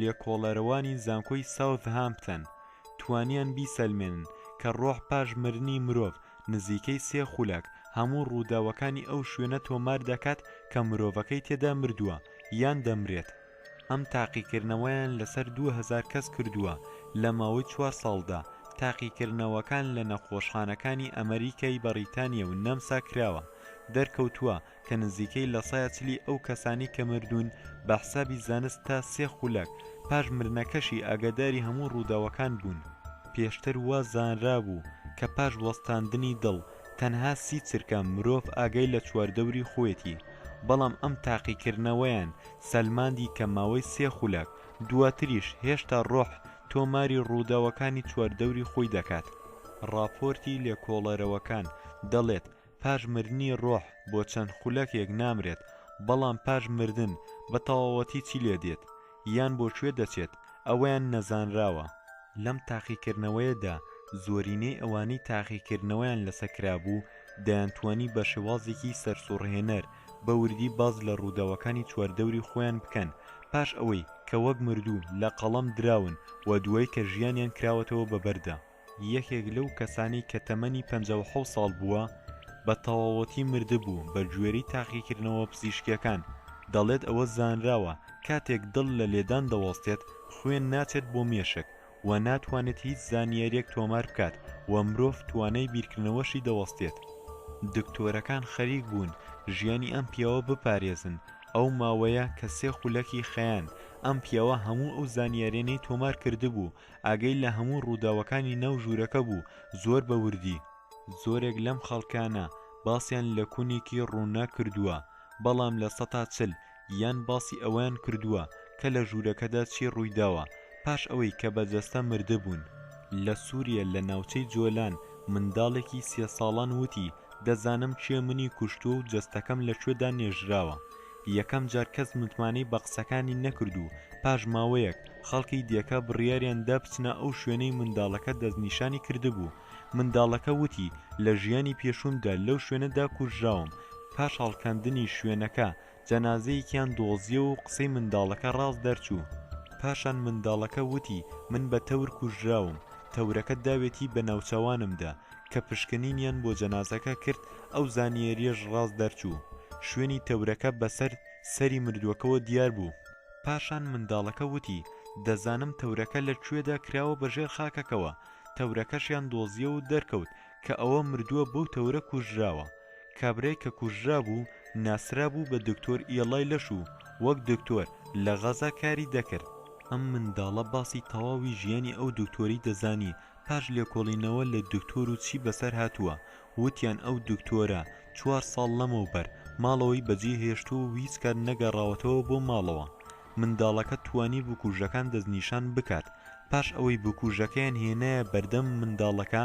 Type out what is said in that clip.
لێکۆڵەرەوانی زانکۆی ساوت هامپتەن توانیان بیسەلمێنن کە ڕۆح پاش مرنی مرۆڤ نزیکەی سێ خولەک هەموو ڕووداوەکانی ئەو شوێنە تۆمار دەکات کە مرۆڤەکەی تێدا مردووە یان دەمرێت ئەم تاقیکردنەوەیان لەسەر دوو هەزار کەس کردووە لە ماوەی چوار ساڵدا، تاقیکردنەوەکان لە نەخۆشخانەکانی ئەمەریکای بەڕیتانیا و نەمسا کراوە، دەرکەوتووە کە نزیکەی لە سەیا چلی ئەو کەسانەی کە مردوون بە حسابی زانست تا سێ خولەک پاش مردنەکەشی ئاگاداری هەموو ڕووداوەکان بوون. پێشتر وا زانرابوو کە پاش وەستاندنی دڵ تەنها سی چرکە مرۆڤ ئاگای لە چواردەوری خۆیەتی، بەڵام ئەم تاقیکردنەوەیان سەلماندی کە ماوەی سێ خولەک دواتریش هێشتا ڕۆح تۆماری ڕووداوەکانی چواردەوری خۆی دەکات. ڕاپۆرتی لێکۆڵەرەوەکان دەڵێت پاش مردنی ڕۆح بۆ چەند خولەکێک نامرێت، بەڵام پاش مردن بە تەواوەتی چی لێ دێت یان بۆ کوێ دەچێت ئەوەیان نەزانراوە. لەم تاقیکردنەوەیەدا زۆرینەی ئەوانەی تاقیکردنەوەیان لەسەر کرابوو دەیانتوانی بە شێوازێکی سەرسوڕهێنەر، بە وردی باس لە ڕووداوەکانی چواردەوری خۆیان بکەن پاش ئەوەی کە وەک مردوو لە قەڵەم دراون و دوای کە ژیانیان کراوەتەوە بە بەردا. یەکێک لەو کەسانەی کە تەمەنی پەنجا و حەوت ساڵ بووە بە تەواوەتی مردبوو، بە گوێرەی تاقیکردنەوە پزیشکییەکان دەڵێت ئەوە زانراوە کاتێک دڵ لە لێدان دەوەستێت خوێن ناچێت بۆ مێشک و ناتوانێت هیچ زانیاریەک تۆمار بکات و مرۆڤ توانای بیرکردنەوەشی دەوەستێت دکتۆرەکان خەریک بوون ژیانی ئەم پیاوە بپارێزن ئەو ماوەیە کە سێ خولەکی خەیان ئەم پیاوە هەموو ئەو زانیارێنەی تۆمار کردبوو ئاگەی لە هەموو ڕووداوەکانی ناو ژوورەکە بوو زۆر بە وردی زۆرێک لەم خەڵکانە باسیان لە کونێکی ڕووناک کردووە بەڵام لە سەتا چل یان باسی ئەوەیان کردووە کە لە ژوورەکەدا چی ڕوویداوە پاش ئەوەی کە بە جەستە مردبوون. لە سووریە لە ناوچەی جۆلان منداڵێکی سێ ساڵان وتی، دەزانم کێ منی کوشتووە و جەستەکەم لە کوێدا نێژراوە. یەکەم جار کەس متمانەی بە قسەکانی نەکرد و پاش ماوەیەک خەڵکی دێکە بڕیاریان دا بچنە ئەو شوێنەی منداڵەکە دەستنیشانی کردبوو. منداڵەکە وتی، لە ژیانی پێشوومدا لەو شوێنەدا کوژراوم، پاش هەڵکەندنی شوێنەکە، جەنازەیەکیان دۆزیەوە و قسەی منداڵەکە ڕاست دەرچوو پاشان منداڵەکە وتی من بە تەور کوژراوم تەورەکە داوێتی بە ناوچەوانمدا کە پشکنینیان بۆ جەنازەکە کرد ئەو زانیەریەش ڕاست دەرچوو شوێنی تەورەکە بەسەر سەری مردوەکەوە دیار بوو پاشان منداڵەکە وتی دەزانم تەورەکە لە کوێدا کراوە بە ژێر خاکەکەوە تەورەکەشیان دۆزیەوە و دەرکەوت کە ئەوە مردووە بەو تەورە کوژراوە کابرای کە کوژرابوو ناسرابوو بە دکتۆر ئیەڵای لەش و وەک دکتۆر لە غەزا کاری دەکرد ئەم منداڵە باسی تەواوی ژیانی ئەو دکتۆری دەزانی پاش لێکۆڵینەوە لە دکتۆر و چی بەسەر هاتووە وتیان ئەو دکتۆرە چوار ساڵ لەمەوبەر ماڵەوەی بەجێ هێشتووە و هیچ کات نەگەڕاوەتەوە بۆ ماڵەوە منداڵەکە توانی بکوژەکان دەستنیشان بکات پاش ئەوەی بکوژەکەیان هێنایە بەردەم منداڵەکە